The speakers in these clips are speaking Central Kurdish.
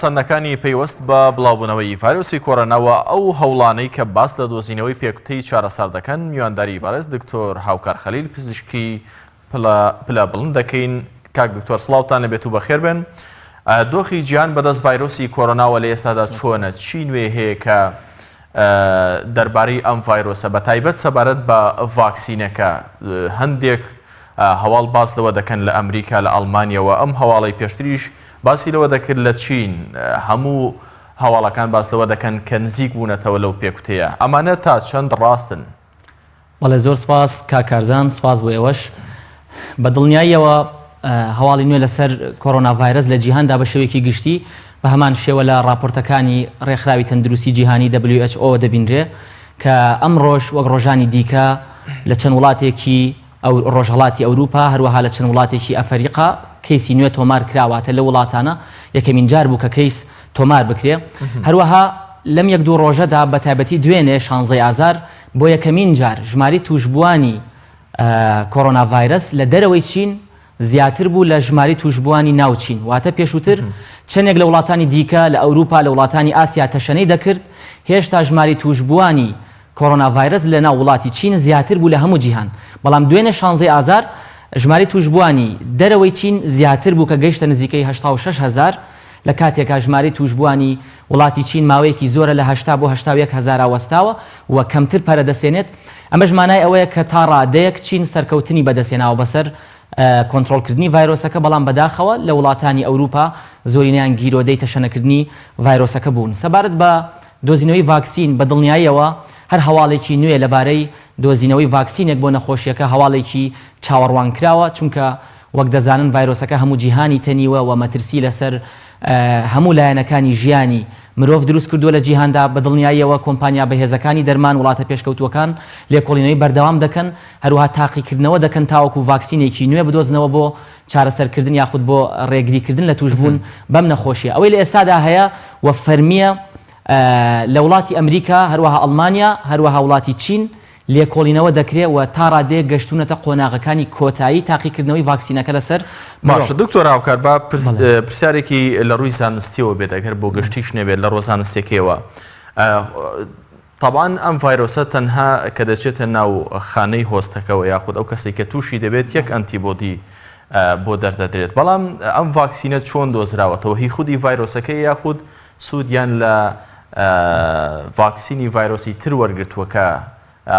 سەنگەکانی پەیوەست بە بڵاوبوونەوەی ڤایرۆسی کۆرۆنا و ئەو هەوڵانەی کە باس لە دۆزینەوەی پێکوتەی چارەسەر دەکەن، میوانداری بەڕێز دکتۆر هاوکار خەلیل پزیشکی پلە پلە بڵند دەکەین. کاک دکتۆر سڵاوتان لەبێت و بەخێر بێن. دۆخی جیهان بەدەست ڤایرۆسی کۆرۆناوە لە ئێستادا چۆنە؟ چی نوێ هەیە کە دەربارەی ئەم ڤایرۆسە بە تایبەت سەبارەت بە ڤاکسینەکە هەندێک هەواڵ باس لەوە دەکەن لە ئەمریکا لە ئەڵمانیەوە ئەم هەواڵی پێشتریش باسی لەوە دەکرد لە چین هەموو هەواڵەکان باس لەوە دەکەن کە نزیک بوونەتەوە لەو پێکوتەیە، ئەمانە تا چەند ڕاستن؟ بەڵێ زۆر سپاس کاک کارزان، سپاس بۆ ئێوەش. بە دڵنیاییەوە هەواڵی نوێ لەسەر کۆرۆنا ڤایرەس لە جیهاندا بە شێوەیەکی گشتی بە هەمان شێوە لە ڕاپۆرتەکانی ڕێکخراوی تەندروستی جیهانی WHO وە دەبینرێ کە ئەمڕۆش وەک ڕۆژانی دیکە لە چەند وڵاتێکی ئەو ڕۆژهەڵاتی ئەوروپا هەروەها لە چەند وڵاتێکی ئەفەریقا کەیسی نوێ تۆمار کرا واتە لەو وڵاتانە یەکەمین جار بوو کە کەیس تۆمار بکرێ هەروەها لەم یەک دوو ڕۆژەدا بە تایبەتی دوێنێ شانزەی ئازار بۆ یەکەمین جار ژماری تووشبووانی کۆرۆنا ڤایرەس لە دەرەوەی چین زیاتر بوو لە ژمارەی تووشبووانی ناو چین، واتە پێشووتر چەندێک لە وڵاتانی دیکە لە ئەوروپا، لە وڵاتانی ئاسیا تەشەنەی دەکرد، هێشتا ژمارەی تووشبووانی کۆرۆنا ڤایرەس لە ناو وڵاتی چین زیاتر بوو لە هەموو جیهان، بەڵام دوێنێ شانزە ی ئازار ژمارەی تووشبووانی دەرەوەی چین زیاتر بوو کە گەیشتە نزیکەی هەشتا و شەش هەزار، لە کاتێکا ژمارەی تووشبووانی وڵاتی چین ماوەیەکی زۆرە لە هەشتا بۆ هەشتا و یەک هەزارا وەستاوە و کەمتر پەرەدەسێنێت، ئەمەش مانای ئەوەیە کە تا ڕادەیەک چین سەرکەوتنی بەدەستهێناوە بەسەر کۆنترۆڵکردنی ڤایرۆسەکە، بەڵام بەداخەوە لە وڵاتانی ئەوروپا زۆرینەیان گیرۆدەی تەشەنەکردنی ڤایرۆسەکە بوون. سەبارەت بە دۆزینەوەی ڤاکسین، بە دڵنیاییەوە هەر هەواڵێکی نوێ لەبارەی دۆزینەوەی ڤاکسینێک بۆ نەخۆشییەکە هەواڵێکی چاوەڕوانکراوە، چونکە وەک دەزانن ڤایرۆسەکە هەموو جیهانی تەنیوە و مەترسی لەسەر هەموو لایەنەکانی ژیانی مرۆڤ دروست کردووە لە جیهاندا، بە دڵنیاییەوە کۆمپانیا بەهێزەکانی دەرمان وڵاتە پێشکەوتووەکان لێکۆڵینەوەی بەردەوام دەکەن، هەروەها تاقیکردنەوە دەکەن تاوەکو ڤاکسینێکی نوێ بدۆزنەوە بۆ چارەسەرکردن یاخود بۆ ڕێگریکردن لە تووشبوون بەم نەخۆشییە. ئەوەی لە ئێستادا هەیە و فەرمییە لە وڵاتی ئەمریکا، هەروەها ئەڵمانیا، هەروەها وڵاتی چین، لێکۆڵینەوە دەکرێت و تا ڕادەیەک گەشتوونەتە قۆناغەکانی کۆتایی تاقیکردنەوەی ڤاکسینەکە لەسەر مرۆڤ. باشە دکتۆر هاوکار با پرسیارێکی لە ڕووی زانستیەوە بێت ئەگەر بۆ گشتیش نەبێت لە ڕووە زانستیەکەیەوە تەبان ئەم ڤایرۆسە تەنها کە دەچێتە ناو خانەی هۆستەکەەوە یاخود ئەو کەسی کە تووشی دەبێت یەک ئەنتی بۆدی بۆ دەردەدرێت بەڵام ئەم ڤاکسینە چۆن دۆزراوەتەوە هی خودی ڤایرۆسەکەی یاخود سوودیان لە ڤاکسینی ڤایرۆسی تر وەرگرتووە کە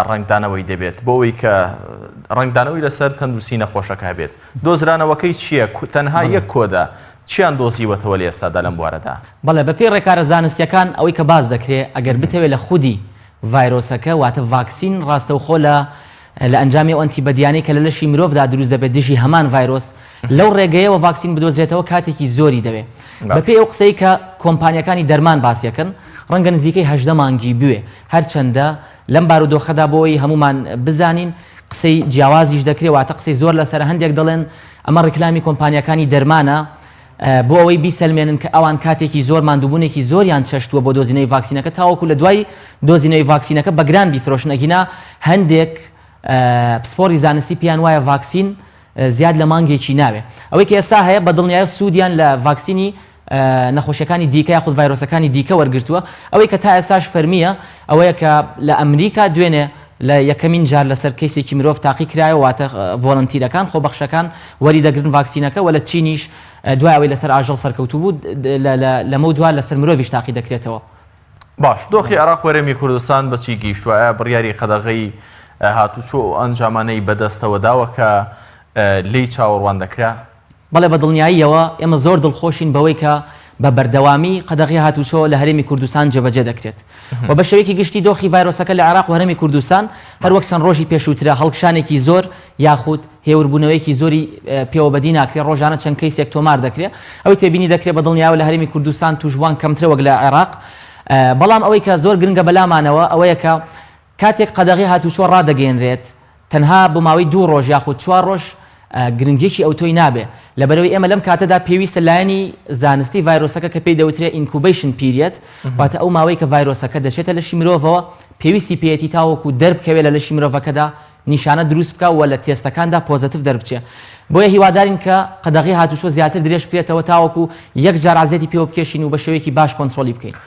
ڕەنگدانەوەی دەبێت بۆ ئەوەی کە ڕەنگدانەوەی لەسەر تەندروستی نەخۆشەکە هەبێت دۆزرانەوەکەی چییە تەنها یەک کۆدە چیان دۆزیوەتەوە لە ئێستادا لەم بوارەدا؟ بەڵێ بەپێی ڕێکارە زانستییەکان ئەوەی کە باس دەکرێت ئەگەر بتەوێت لە خودی ڤایرۆسەکە واتە ڤاکسین ڕاستەوخۆ لە لە ئەنجامی ئەو ئەنتی بەدیانەی کە لە لەشی مرۆڤدا دروست دەبێت دژی هەمان ڤایرۆس، لەو ڕێگەیەوە ڤاکسین بدۆزرێتەوە کاتێکی زۆری دەوێ. بە پێی ئەو قسەی کە کۆمپانیاکانی دەرمان باسیەکەن ڕەنگە نزیکەی هەژدە مانگی بوێ. هەرچەندە لەم بارودۆخەدا بۆ ئەوەی هەموومان بزانین قسەی جیاوازیش دەکرێ واتە قسەی زۆر لەسەرە هەندێک دەڵێن ئەمە ڕیکلامی کۆمپانیاکانی دەرمانە بۆ ئەوەی بیسەلمێنن کە ئەوان کاتێکی زۆر ماندووبوونێکی زۆریان چەشتووە بۆ دۆزینەوەی ڤاکسینەکە تاوەکو لە دوای دۆزینەوەی ڤاکسینەکە بە گران بیفرۆشن ئەگینا هەندێک پسپۆڕی زانستی پێیان وایە ڤاکسین زیاد لە مانگێکی ناوێ ئەوەی کە ئێستا هەیە بە دڵنیایە سوودیان لە ڤاکسینی نەخۆشیەکانی دیکە یاخود ڤایرۆسەکانی دیکە وەرگرتووە ئەوەی کە تا ئێستاش فەرمییە ئەوەیە کە لە ئەمریکا دوێنێ لە یەکەمین جار لەسەر کەیسێکی مرۆڤ تاقی کرایەوە، واتە ڤۆلەنتیرەکان، خۆبەخشەکان، وەری دەگرن ڤاکسینەکە و لە چینیش دوای ئەوەی لەسەر ئاژەڵ سەرکەوتوو بوو، لەمەو دوا لەسەر مرۆڤیش تاقی دەکرێتەوە. باش، دۆخی عێراق و هەرێمی کوردستان بە چی گەیشتووە؟ ئایا بڕیاری قەدەغەی هاتووچۆ و ئەو ئەنجامانەی بە دەستەوە داوە کە لێی چاوەڕوان دەکرا؟ بەڵێ بەدڵنیاییەوە ئێمە زۆر دڵخۆشین بەوەی کە بە بەردەوامی قەدەغەی هاتووچۆ لە هەرێمی کوردستان جێبەجێ دەکرێت و بە شێوەیەکی گشتی دۆخی ڤایرۆسەکە لە عێراق و هەرێمی کوردستان هەروەک چەند ڕۆژی پێشووترە هەڵکشانێکی زۆر یاخود هێوربوونەوەیەکی زۆری پێوە بەدی ناکرێت ڕۆژانە چەند کەیسێک تۆمار دەکرێت ئەوەی تێبینی دەکرێت بە دڵنیایەوە لە هەرێمی کوردستان تووشبووان کەمترە وەک لە عێراق بەڵام ئەوەی کە زۆر گرنگە بەلامانەوە ئەوەیە کە کاتێک قەدەغەی هاتووچۆ ڕادەگەیەنرێت، تەنها بۆ ماوەی دوو ڕۆژ یاخود چوار ڕۆژ گرنگییەکی ئەوتۆی نابێت، لەبەرئەوەی ئێمە لەم کاتەدا پێویستە لایەنی زانستی ڤایرۆسەکە کە پێی دەوترێت ئینکوبەیشن پیریەد، واتە ئەو ماوەی کە ڤایرۆسەکە دەچێتە لەشی مرۆڤەوە، پێویستی پێیەتی تاوەکو دەربکەوێت لە لەشی مرۆڤەکەدا نیشانە دروست بکات و لە تێستەکاندا پۆزەتڤ دەربچێت. بۆیە هیوادارین کە قەدەغەی هاتووچۆ زیاتر درێژ بکرێتەوە تاوەکو یەکجار عەزیەتی پێوە بکێشین و بە شێوەیەکی باش کۆنترۆڵی بکەین.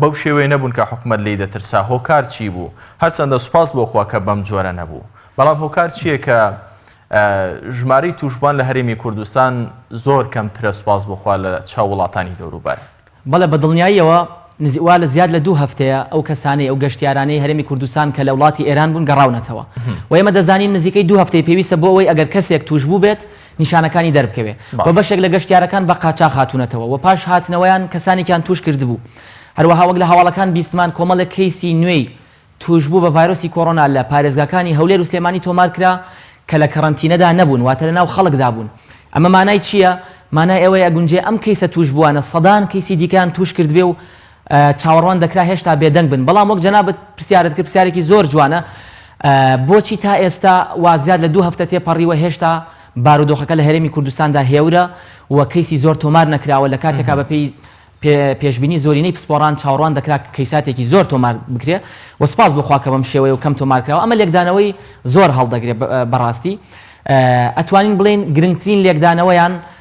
بەو شێوەیە نەبوون کە حکومەت لێی دەترسا، هۆکار چی بوو؟ هەرچەندە سوپاس بۆ خوا کە بەم جۆرە نەبوو، بەڵام هۆکار چییە کە ژمارەی تووشبووان لە هەرێمی کوردستان زۆر کەمترە سوپاس بۆ خوا لە چاو وڵاتانی دەوروبەر؟ بەڵێ بە دڵنیاییەوە وا لە زیاد لە دوو هەفتەیە ئەو کەسانەی، ئەو گەشتیارانەی هەرێمی کوردستان کە لە وڵاتی ئێران بوون گەڕاونەتەوە و ئێمە دەزانین نزیکەی دوو هەفتەی پێویستە بۆ ئەوەی ئەگەر کەسێک تووشبوو بێت، نیشانەکانی دەربکەوێ و بەشێک لە گەشتیارەکان بە قاچاخ هاتوونەتەوە و پاش هاتنەوەیان کەسانێکیان تووش کردبوو. هەروەها وەک لە هەواڵەکان بیستمان کۆمەڵێک کەیسی نوێی تووشبوو بە ڤایرۆسی کۆرۆنا لە پارێزگاکانی هەولێر و سلێمانی تۆمار کرا کە لە کەرەنتینەدا نەبوون واتە لە ناو خەڵکدا بوون. ئەمە مانای چییە؟ مانای ئەوەی ئەگونجێ ئەم کەیسە تووشبووانە سەدان کەیسی دیکەیان تووش کردبێ و چاوەڕوان دەکرا هێشتا بێدەنگ بن، بەڵام وەک جەنابت پرسیارت کرد، پرسیارێکی زۆر جوانە، بۆچی تا ئێستا و زیاد لە دوو هەفتە تێپەڕیوە هێشتا بارودۆخەکە لە هەرێمی کوردستاندا هێورە و کەیسی زۆر تۆمار نەکراوە، لە کاتێکا بەپێی پێشبینی زۆرینەی پسپۆڕان چاوەڕوان دەکرا کەیساتێکی زۆر تۆمار بکرێ و سوپاس بۆ خوا کە بەم شێوەیە و کەم تۆمار کراوە، ئەمە لێکدانەوەی زۆر هەڵدەگرێ بەڕاستی ئەتوانین بڵێین گرنگترین لێکدانەوەیان،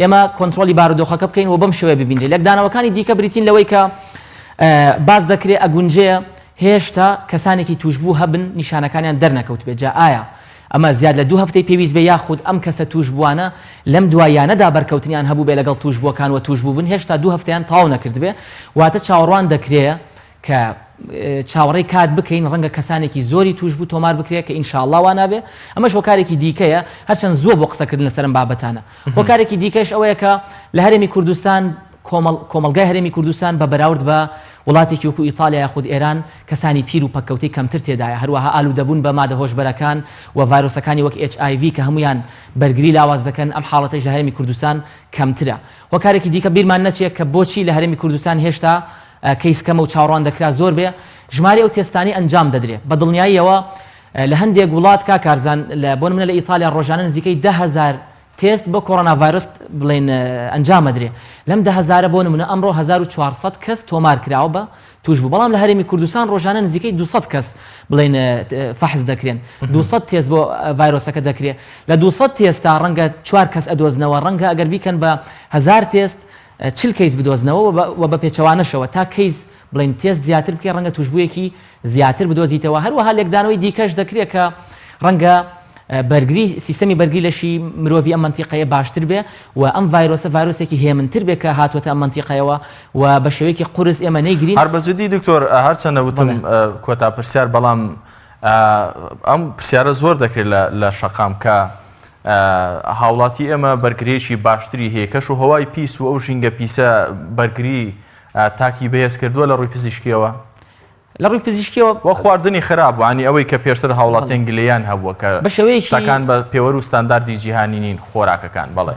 ئێمە کۆنترۆڵی بارودۆخەکە بکەین و بەم شێوەیە ببینرێت. لێکدانەوەکانی دیکە بریتین لەوەی کە باس دەکرێت ئەگونجێ هێشتا کەسانێکی تووشبوو هەبن نیشانەکانیان دەرنەکەوتبێت، جا ئایا ئەمە زیاد لە دوو هەفتەی پێویست بێت یاخود ئەم کەسە تووشبووانە لەم دواییانەدا بەرکەوتنیان هەبووبێت لەگەڵ تووشبووەکان و تووشبووبن هێشتا دوو هەفتەیان تەواو نەکردبێت، واتە چاوەڕوان دەکرێت کە چاوەڕێی کات بکەین ڕەنگە کەسانێکی زۆری تووشبوو تۆمار بکرێت کە ان شاء اللە وا نابێت ئەمەش هۆکارێکی دیکەیە هەرچەند زووە بۆ قسەکردن لەسەر ئەم بابەتانە هۆکارێکی دیکەش ئەوەیە کە لە هەرێمی کوردستان کۆمەڵ کۆمەڵگای هەرێمی کوردستان بە بەراورد بە وڵاتێکی وەکو ئیتالیا یاخود ئێران کەسانی پیر و پەککەوتەی کەمتر تێدایە هەروەها ئالوودەبوون بە مادە هۆشبەرەکان و ڤایرۆسەکانی وەک HIV کە هەموویان بەرگری لاواز دەکەن ئەم حاڵەتەیش لە هەرێمی کوردستان کەمترە هۆکارێکی دیکە بیرمان نەچێت کە بۆچی لە هەرێمی کوردستان هێشتا کەیس کەمە و چاوڕوان دەکرا زۆر بێ ژماری ئەو تێستانەی ئەنجام دەدرێ بە دڵنیاییەوە لە هەندێک وڵات کاک کارزان لە بۆ نمونە لە ئیتالیا ڕۆژانە نزیکەی دە هەزار تێست بۆ کۆڕۆنا ڤایرۆس بڵێن ئەنجام ئەدرێ لەم دە هەزارە بۆ نمونە ئەمڕۆ هەزار و چوار سەد کەس تۆمار کراوە بە تووشبوو بەڵام لە هەرێمی کوردستان ڕۆژانە نزیکەی دوو سەد کەس بڵێن فەحس دەکرێن دوو سەد تێست بۆ ڤایرۆسەکە دەکرێ لە دوو سەد تێستا ڕەنگە چوار کەس ئەدۆزنەوە ڕەنگە ئەگەر بیکەن بە هەزار تێست چل کەیس بدۆزنەوە و بە پێچەوانەشەوە تا کەیس بڵێین تێست زیاتر بکەی ڕەنگە توشبوویەکی زیاتر بدۆزیتەوە هەروەها لێکدانەوەی دیکەش دەکرێت کە ڕەنگە بەرگری سیستەمی بەرگری لەشی مرۆڤی ئەم مەنتیقەیە باشتر بێ و ئەم ڤایرۆسە ڤایرۆسێکی هێمنتر بێ کە هاتووەتە ئەم مەنتیقەیەوە و بە شێوەیەکی قورس ئێمە نەیگرین. هەر بە جدی دکتۆر هەرچەندە وتم کۆتا پرسیار بەڵام ئەم پرسیارە زۆر دەکرێت لە شەقام کە هاوڵاتی ئێمە بەرگریەکی باشتری هەیە کەش و هەوای پیس و ئەو ژینگە پیسە بەرگری تاکی بەهێز کردووە لە ڕووی پزیشکیەوە لە ڕووی پزیشکیەوە وە خواردنی خراپ وانی ئەوەی کە پێشتر هاوڵاتیان گلیان هەبووە کە بەشەوەیەکان بە پێوەر و ستانداردی جیهانی نین خۆراکەکان بەڵێ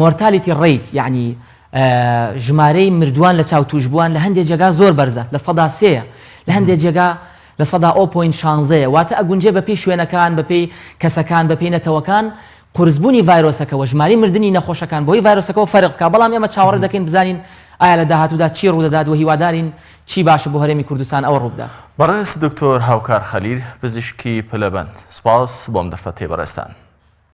Mortality Rate یەعنی ژمارەی مردووان لە چاو تووشبووان لە هەندێ جێگا زۆر بەرزە لە سەدا سێ یە لە هەندێ جێگا لە سەدا ئۆ پۆینت شانزە یە واتە ئەگونجێ بە پێی شوێنەکان بە پێی کەسەکان بە پێی نەتەوەکان قورس بوونی ڤایرۆسەکەوە ژماری مردنی نەخۆشەکان بەهۆی ڤایرۆسەکەوە فەرق بکا بەڵام ئێمە چاوەڕێ دەکەین بزانین ئایا لە داهاتوودا چی ڕوودەدات وە هیوادارین چی باشە بۆ هەرێمی کوردستان ئەوە ڕووبدات. بەڕێز دکتۆر هاوکار خەلیل پزیشکی پلەبەند سپاس بۆم دەرفەتەی بەڕێزتان.